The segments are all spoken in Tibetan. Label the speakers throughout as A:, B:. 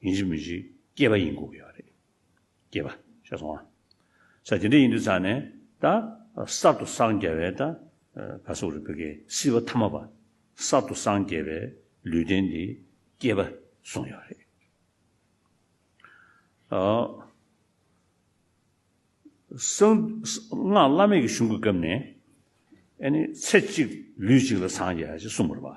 A: ཡིན་གཅིག་མིན་གཅིག་སྐྱེས་པ་ཡིན་གོ་གི་ཡོད་རེད། སྐྱེས་པ། ཤ་སོང་ཨ། ས་དེ་འདྲ་ཡིན་དུས་ཚར་ནས་ད། གསར་དུ་སངས་རྒྱ་བའི་ད། ག་སོགས་རེད་བོད་སྐད་སྲིད་པ་ཐ་མ་པ། གསར་དུ་སངས་རྒྱས་པའི་ལུས་རྟེན་འདི། སྐྱེས་པ། སོང་ཡོད་རེད། ཨོ། གསང། སྔགས་བླ་མེད་ཀྱི་གཞུང་གི་སྐབས་ནས། ཨ་ནི་ཚེ་གཅིག་ལུས་གཅིག་ལ་སངས་རྒྱས་ཞེས་གསུངས་པར་བ།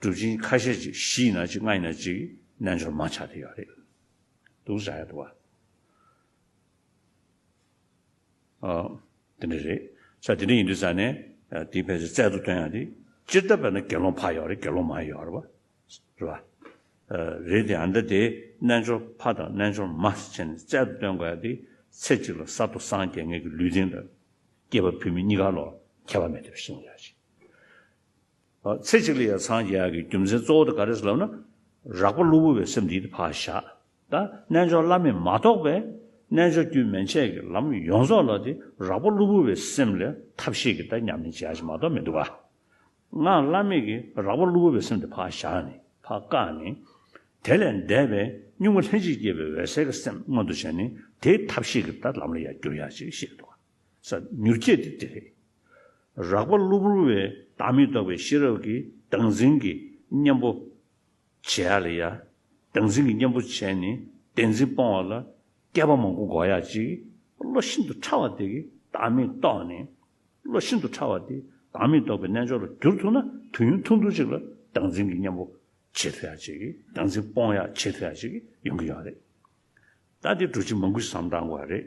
A: གྲུབ་ཅིང་ཁ་ཤས་ཀྱིས་བཞི་ཡིན་ན་གཅིག་ལྔ་ཡིན་ན་གཅིག་རྣལ་འབྱོར་མ་ཆགས་དེ་ཡོད་རེད་འདུག་བྱ་ཡ་འདུག་བ། ཨ། དེ་འདྲ་རེད་ས་དེ་འདྲ་ཡིན་དུས་ས་ནས་དེའི་ཕལ་ཆེར་རྩལ་དུ་བཏོན་ཡང་དེ་སྤྱིར་བཏབ་པས་ན་དགེ་སློང་ཕ་ཡོད་རེད་དགེ་སློང་མ་ཡོད་རེད་བ། རེད་བ། རེད་དེ་ཡང་འདྲ་དེ་རྣལ་འབྱོར་ཕ་དང་རྣལ་འབྱོར་མ་ས་ཆེན་ནས་རྩལ་དུ་བཏོན་དགོས་ཡ་དེ་ཚེ་གཅིག་ལ་གསར་དུ་སངས་རྒྱས་ངེས་ཀྱི་ལུས་རྟེན་ལ་སྐྱེས་པ་བུད་མེད་གཉིས་ཀ་ལོ་ཁྱད་པར་མེད་དུ་བཞེངས་ཡ་ཅིག། ཚེ་གཅིག་ལ་ཡང་འཚང་རྒྱ་ཡག་གི་རྒྱུ་མཚན་གཙོ་བོ་དེ་ག་རེ་ཟེར་ལབ་ན། རག་པ་གློ་བུར་བའི་སེམས་འདིའི་དེ་ཕར་བཞག་ད་རྣལ་འབྱོར་བླ་མེད་མ་རྟོགས་པའི། རྣལ་འབྱོར་རྒྱུད་མན་ཆད་ཀྱི་ལམ་ཡོངས་རྫོགས་ལ་དེ་རག་པ་གློ་བུར་བའི་སེམས་ལས་ཐབས་ཤེས་ཀྱི་ད་མཉམ་མེད་བྱ་བྱེད་མ་གཏོགས་མི་འདུག་ག། ངག་བླ་མེད་ཀྱི་རག་པ་གློ་བུར་བའི་སེམས་དེ་ཕར་བཞག་ནས་ཕར་བཀག་ནས། དེ་ལས་འདས་པའི་གཉུག་མ་ལྷན་ཅིག་སྐྱེས་པའི་འོད་གསལ་གྱི་སེམས་མངོན་དུ་བྱས་ནས་དེའི་ཐབས་ཤེས་ཀྱི་ད་ལམ་ལ་ཡང་བསྒྱུར་ཡག་ཅེས་བཤད་འདུག་ག། ས། མྱུར་སྐྱེས་དེ་དེ་རེད། རགས་པ་གློ་བུར་བའི་བདག་མེད་རྟོགས་པའི་ཤེས་རབ་ཀྱིས་བདག་འཛིན་གྱི་གཉེན་པོ། བྱེད་ཡ་ལ་ཡ། བདག་འཛིན་གྱི་གཉེན་པོ་བྱས་ནས་བདེན་འཛིན་སྤོང་བ་ལ། བསྐལ་པ་མང་པོ་འགོག་ཡ་གཅིག་བློ་ཤིན་ཏུ་ཕྲ་བ་དེ་གི་བདག་མེད་རྟོགས་ནས། བློ་ཤིན་ཏུ་ཕྲ་བ་དེ་བདག་མེད་རྟོགས་པའི་རྣལ་འབྱོར་ལ་བསྒྱུར་ཐུབ་ན་དུས་ཡུན་ཐུང་ཐུང་ཅིག་ལ་བདག་འཛིན་གྱི་གཉེན་པོ། བྱེད་ཐུབ་ཡ་གཅིག་བདག་འཛིན་སྤོང་ཡ་བྱེད་ཐུབ་ཡ་གཅིག་ཡོང་གི་ཡོད་རེད། ད་དེ་འགྲོ་ཕྱི་མ་མགུ་བསམ་བགྲང་དགོས་རེད།